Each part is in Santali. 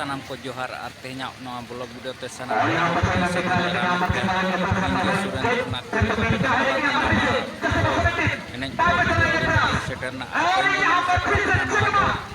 ᱥᱟᱱᱟᱢ ᱠᱚ ᱡᱚᱦᱟᱨ ᱟᱨ ᱛᱮᱦᱮᱧᱟᱜ ᱱᱚᱣᱟ ᱵᱞᱚᱜ ᱵᱷᱤᱰᱤᱭᱳ ᱛᱮ ᱥᱟᱱᱟᱢ ᱮᱱᱮᱡ ᱥᱮᱴᱮᱨ ᱨᱮᱱᱟᱜ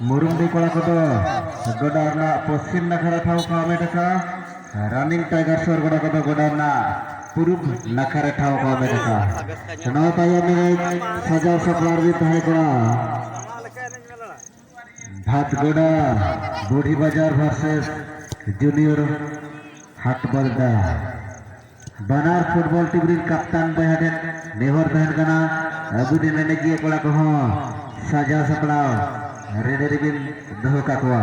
ᱢᱩᱨᱩᱢᱰᱤ ᱠᱚᱲᱟ ᱠᱚᱫᱚ ᱜᱚᱰᱟ ᱨᱮᱱᱟᱜ ᱯᱚᱥᱪᱤᱢ ᱱᱟᱠᱷᱟ ᱨᱮ ᱴᱷᱟᱶ ᱠᱚ ᱦᱟᱢᱮᱴ ᱟᱠᱟᱫᱼᱟ ᱨᱟᱱᱤᱝ ᱴᱟᱭᱜᱟᱨ ᱥᱚᱨ ᱜᱚᱰᱟ ᱠᱚᱫᱚ ᱜᱚᱰᱟ ᱨᱮᱱᱟᱜ ᱯᱩᱨᱩᱵ ᱱᱟᱠᱷᱟ ᱨᱮ ᱴᱷᱟᱶ ᱠᱚ ᱦᱟᱢᱮᱴ ᱟᱠᱟᱫᱼᱟ ᱱᱚᱣᱟ ᱛᱟᱭᱚᱢ ᱨᱮ ᱥᱟᱡᱟᱣ ᱥᱟᱯᱲᱟᱣ ᱨᱮ ᱛᱟᱦᱮᱸ ᱠᱟᱱᱟ ᱵᱷᱟᱛᱜᱚᱰᱟ ᱵᱩᱲᱦᱤ ᱵᱟᱡᱟᱨ ᱵᱷᱟᱨᱥᱮᱥ ᱡᱩᱱᱤᱭᱚᱨ ᱦᱟᱴ ᱵᱟᱞᱫᱟ ᱵᱟᱱᱟᱨ ᱯᱷᱩᱴᱵᱚᱞ ᱴᱤᱢ ᱨᱤᱱ ᱠᱟᱯᱛᱟᱱ ᱵᱚᱭᱦᱟ ᱴᱷᱮᱱ ᱱᱮᱦᱚᱨ ᱛᱟᱦᱮᱱ ᱠᱟᱱᱟ ᱟᱹᱜᱩ ᱴᱷᱮᱱ ᱮᱱᱮᱡᱤᱭᱟᱹ ᱠᱚᱲᱟ ᱠᱚᱦᱚᱸ ᱥᱟᱡᱟᱣ ᱥᱟᱯᱲᱟᱣ ᱨᱮᱰᱤ ᱨᱮᱵᱤᱱ ᱫᱚᱦᱚ ᱠᱟᱠᱚᱣᱟ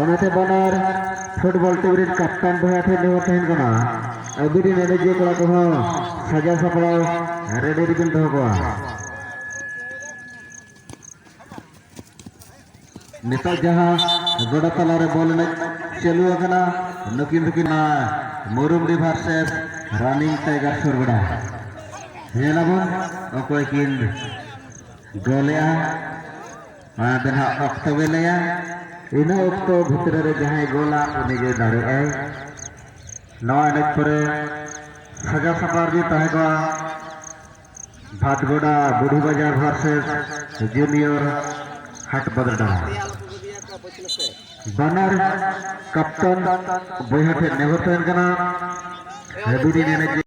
ᱚᱱᱟᱛᱮ ᱵᱟᱱᱟᱨ ᱯᱷᱩᱴᱵᱚᱞ ᱴᱤᱢ ᱨᱮᱱ ᱠᱟᱯᱴᱟᱱ ᱵᱚᱭᱦᱟ ᱴᱷᱮᱱ ᱱᱮᱦᱚᱨ ᱛᱟᱦᱮᱱ ᱠᱟᱱᱟ ᱟᱹᱵᱤᱱ ᱨᱮᱱ ᱮᱱᱮᱡᱤᱭᱟᱹ ᱠᱚᱲᱟ ᱠᱚᱦᱚᱸ ᱥᱟᱡᱟᱣ ᱥᱟᱯᱲᱟᱣ ᱨᱮᱰᱤ ᱨᱮᱵᱤᱱ ᱫᱚᱦᱚ ᱠᱚᱣᱟ ᱱᱤᱛᱚᱜ ᱡᱟᱦᱟᱸ ᱜᱚᱰᱟ ᱛᱟᱞᱟᱨᱮ ᱵᱚᱞ ᱮᱱᱮᱡ ᱪᱟᱹᱞᱩ ᱟᱠᱟᱱᱟ ᱱᱩᱠᱤᱱ ᱫᱚᱠᱤᱱ ᱢᱩᱨᱩᱢ ᱨᱤᱵᱷᱟᱨ ᱥᱮᱥ ᱨᱟᱱᱤᱝ ᱴᱟᱭᱜᱟᱨ ᱥᱩᱨ ᱜᱚᱰᱟ ᱧᱮᱞᱟᱵᱚᱱ ᱚᱠᱚᱭ ᱠᱤᱱ ᱜᱚᱞᱮᱜᱼᱟ ᱟᱫᱚ ᱱᱟᱜ ᱚᱠᱛᱚ ᱜᱮ ᱞᱟᱹᱭᱟ ᱤᱱᱟᱹ ᱚᱠᱛᱚ ᱵᱷᱤᱛᱨᱤ ᱨᱮ ᱡᱟᱦᱟᱸᱭ ᱜᱳᱞᱟ ᱩᱱᱤ ᱜᱮ ᱫᱟᱲᱮᱭᱟᱜᱼᱟᱭ ᱱᱚᱣᱟ ᱮᱱᱮᱡ ᱯᱚᱨᱮ ᱥᱟᱡᱟ ᱥᱟᱯᱟᱨ ᱜᱮ ᱛᱟᱦᱮᱸ ᱠᱚᱜᱼᱟ ᱵᱷᱟᱴᱜᱚᱰᱟ ᱵᱩᱰᱷᱤ ᱵᱟᱡᱟᱨ ᱵᱷᱟᱨᱥᱮᱥ ᱡᱩᱱᱤᱭᱚᱨ ᱦᱟᱴ ᱵᱟᱫᱨᱰᱟ ᱵᱟᱱᱟᱨ ᱠᱟᱯᱴᱟᱱ ᱵᱚᱭᱦᱟ ᱴᱷᱮᱱ ᱱᱮᱦᱚᱨ ᱛᱟᱦᱮᱱ ᱠᱟᱱᱟ ᱦᱮᱵᱤ ᱮᱱᱮᱡ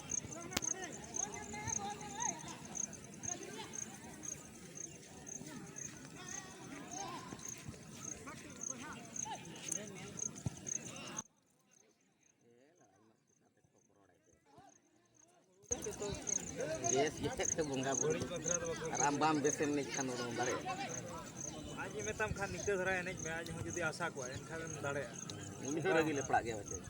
ᱵᱮᱥ ᱜᱮᱛᱮ ᱛᱮ ᱵᱚᱸᱜᱟ ᱵᱩᱨᱩ ᱟᱨ ᱟᱢ ᱵᱟᱢ ᱵᱮᱥ ᱮᱱᱮᱡ ᱠᱷᱟᱱ ᱚᱱᱟᱢ ᱫᱟᱲᱮᱭᱟᱜᱼᱟ ᱟᱡ ᱢᱮᱛᱟᱢ ᱠᱷᱟᱱ ᱱᱤᱝᱠᱟᱹ ᱫᱷᱟᱨᱟ ᱮᱱᱮᱡ ᱢᱮ ᱟᱡ ᱦᱚᱸ ᱡᱩᱫᱤ ᱟᱥᱟ ᱠᱚᱣᱟ ᱮᱱᱠᱷᱟᱱ ᱫᱟᱲᱮᱭᱟᱜᱼᱟ ᱩᱱᱤ ᱦᱚᱸ ᱨᱟᱹᱜᱤ ᱞᱮᱯᱲᱟᱜ ᱜᱮᱭᱟ ᱵᱟᱪᱮ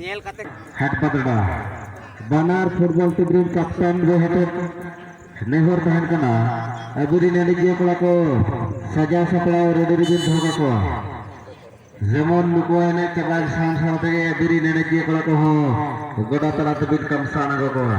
ᱧᱮᱞ ᱠᱟᱛᱮ ᱦᱟᱴ ᱵᱟᱫᱲᱟ ᱵᱟᱱᱟᱨ ᱯᱷᱩᱴᱵᱚᱞ ᱴᱤᱢ ᱨᱮᱱ ᱠᱟᱯᱴᱮᱱ ᱜᱮ ᱦᱟᱴ ᱱᱮᱦᱚᱨ ᱛᱟᱦᱮᱱ ᱠᱟᱱᱟ ᱟᱵᱚᱨᱮᱱ ᱮᱱᱮᱡᱤᱭᱟᱹ ᱠᱚᱲᱟ ᱠᱚ ᱥᱟᱡᱟᱣ ᱥᱟᱯᱲᱟᱣ ᱨᱮᱰᱤ ᱨᱮᱵᱤᱱ ᱫᱚᱦᱚ ᱠᱟᱠᱚᱣᱟ ᱡᱮᱢᱚᱱ ᱱᱩᱠᱩ ᱮᱱᱮᱡ ᱪᱟᱵᱟ ᱥᱟᱶ ᱥᱟᱶ ᱛᱮᱜᱮ ᱟᱵᱚᱨᱮᱱ ᱮᱱᱮᱡᱤᱭᱟᱹ ᱠᱚᱲᱟ ᱠᱚᱦᱚᱸ ᱜᱚᱰᱟ ᱛᱟᱞᱟ ᱛᱮᱵᱤᱱ ᱠᱟᱢᱥᱟᱱ ᱟᱹᱜᱩ ᱠᱚᱣᱟ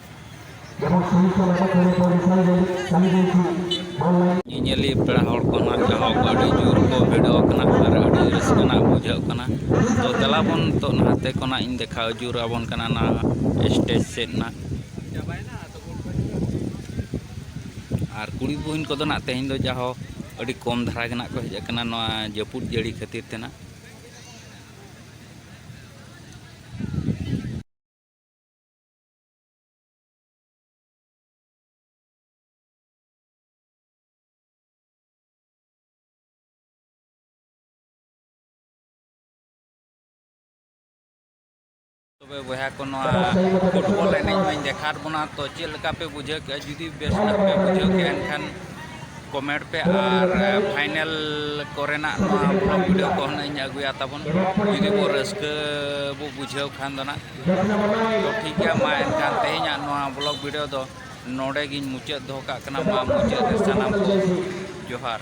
ᱧᱮᱧᱮᱞᱤᱭᱟᱹ ᱯᱮᱲᱟ ᱦᱚᱲ ᱠᱚ ᱱᱟᱦᱟᱜ ᱡᱟᱦᱟᱸ ᱠᱚ ᱟᱹᱰᱤ ᱡᱳᱨ ᱠᱚ ᱵᱷᱤᱲᱚ ᱟᱠᱟᱱᱟ ᱟᱨ ᱟᱹᱰᱤ ᱨᱟᱹᱥᱠᱟᱹ ᱱᱟᱦᱟᱜ ᱵᱩᱡᱷᱟᱹᱜ ᱠᱟᱱᱟ ᱛᱚ ᱫᱮᱞᱟ ᱵᱚᱱ ᱱᱤᱛᱚᱜ ᱱᱟᱛᱮ ᱠᱷᱚᱱᱟᱜ ᱤᱧ ᱫᱮᱠᱷᱟᱣ ᱟᱹᱪᱩᱨ ᱟᱵᱚᱱ ᱠᱟᱱᱟ ᱱᱟᱦᱟᱜ ᱥᱴᱮᱡᱽ ᱥᱮᱫ ᱱᱟᱦᱟᱜ ᱟᱨ ᱠᱩᱲᱤ ᱵᱚᱦᱤᱱ ᱠᱚᱫᱚ ᱱᱟᱦᱟᱜ ᱛᱮᱦᱮᱧ ᱫᱚ ᱡᱟᱦᱳ ᱟᱹᱰᱤ ᱠᱚᱢ ᱫᱷᱟᱨᱟ ᱜᱮ ᱱᱟᱦᱟᱜ ᱠᱚ ᱦᱮᱡ ᱟᱠᱟᱱᱟ ᱱᱚᱣᱟ ᱡᱟᱹᱯᱩᱫ ᱡᱟᱹᱲᱤ ᱠᱷᱟᱹᱛᱤᱨ ᱛᱮ ᱱᱟᱦᱟᱜ ᱛᱚᱵᱮ ᱵᱚᱭᱦᱟ ᱠᱚ ᱱᱚᱣᱟ ᱯᱷᱩᱴᱵᱚᱞ ᱮᱱᱮᱡ ᱢᱟᱹᱧ ᱫᱮᱠᱷᱟᱣ ᱵᱚᱱᱟ ᱛᱚ ᱪᱮᱫ ᱞᱮᱠᱟ ᱯᱮ ᱵᱩᱡᱷᱟᱹᱣ ᱠᱮᱜᱼᱟ ᱡᱩᱫᱤ ᱵᱮᱥ ᱧᱚᱜ ᱯᱮ ᱵᱩᱡᱷᱟᱹᱣ ᱠᱮᱜᱼᱟ ᱮᱱᱠᱷᱟᱱ ᱠᱚᱢᱮᱱᱴ ᱯᱮ ᱟᱨ ᱯᱷᱟᱭᱱᱮᱞ ᱠᱚᱨᱮᱱᱟᱜ ᱱᱚᱣᱟ ᱵᱞᱚᱜᱽ ᱵᱷᱤᱰᱤᱭᱳ ᱠᱚᱦᱚᱸ ᱱᱟᱜ ᱤᱧ ᱟᱹᱜᱩᱭᱟ ᱛᱟᱵᱚᱱ ᱡᱩᱫᱤ ᱵᱚ ᱨᱟᱹᱥᱠᱟᱹ ᱵᱚ ᱵᱩᱡᱷᱟᱹᱣ ᱠᱷᱟᱱ ᱫᱚ ᱱᱟᱜ ᱛᱚ ᱴᱷᱤᱠ ᱜᱮᱭᱟ ᱢᱟ ᱮᱱᱠᱷᱟᱱ ᱛᱮᱦᱮᱧᱟᱜ ᱱᱚᱣᱟ ᱵᱞᱚᱜ ᱵᱷᱤᱰᱤᱭᱳ ᱫᱚ ᱱᱚᱰᱮ ᱜᱤᱧ ᱢᱩᱪᱟᱹᱫ ᱫᱚᱦᱚ ᱠᱟᱜ ᱠᱟᱱᱟ ᱢᱟ ᱢᱩᱪᱟᱹᱫ ᱨᱮ ᱥᱟᱱᱟᱢ ᱠᱚ ᱡᱚᱦᱟᱨ